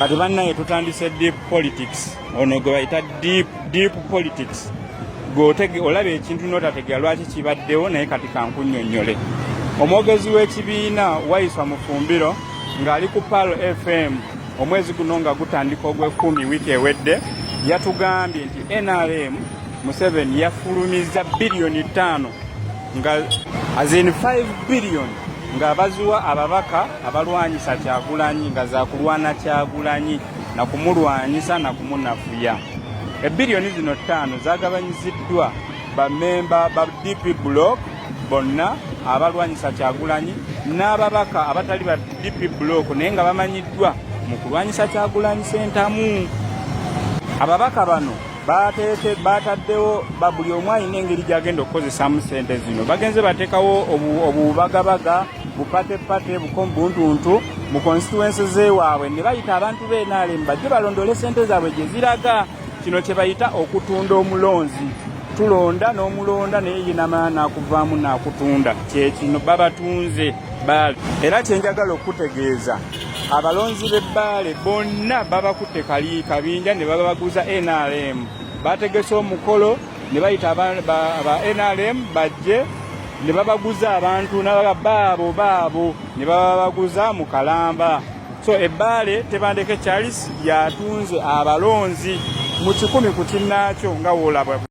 kati bannaye tutandise deep politics ono gwe bayita deep, deep politics gwe olaba ekintu notategera lwaki kibaddewo naye kati kankunyonyole omwogezi w'ekibiina waiswa mufumbiro ng'ali ku pal fm omwezi guno nga gutandika ogw'ekumi wiiki ewedde yatugambye nti nrm museveni yafulumizza biliyoni ttaano nga as in 5 billion nga baziwa ababaka abalwanyisa kyagulanyi nga zakulwana kyagulanyi nakumulwanyisa nakumunafuya ebiriyoni zino ttaano zagabanyiziddwa bamemba ba dp block bonna abalwanyisa kyagulanyi n'ababaka abatali ba dp block naye nga bamanyiddwa mu kulwanyisa kyagulanyi sentamu ababaka bano baataddewo buli omu alina engeri gyagenda okukozesaamu sente zino bagenze bateekawo obubagabaga bupatepate bukombuntuntu mu konsituwensi zewaabwe ne bayita abantu benaalemu bajje balondole sente zaabwe gye ziraga kino kye bayita okutunda omulonzi tulonda n'omulonda naye yinamala nakuvaamu nakutunda kyekino babatunze baali era kyenjagala okutegeeza abalonzi b'ebbaale bonna babakutte kali kabinja ne babaguza nrm bategese omukolo ne bayita aba nrm bajje ne babaguza abantu nabaga baabo baabo ne bababaguza mu kalamba so ebbaale tebandeke charles yatunze abalonzi mu kikumi ku kinnaakyo nga woolaba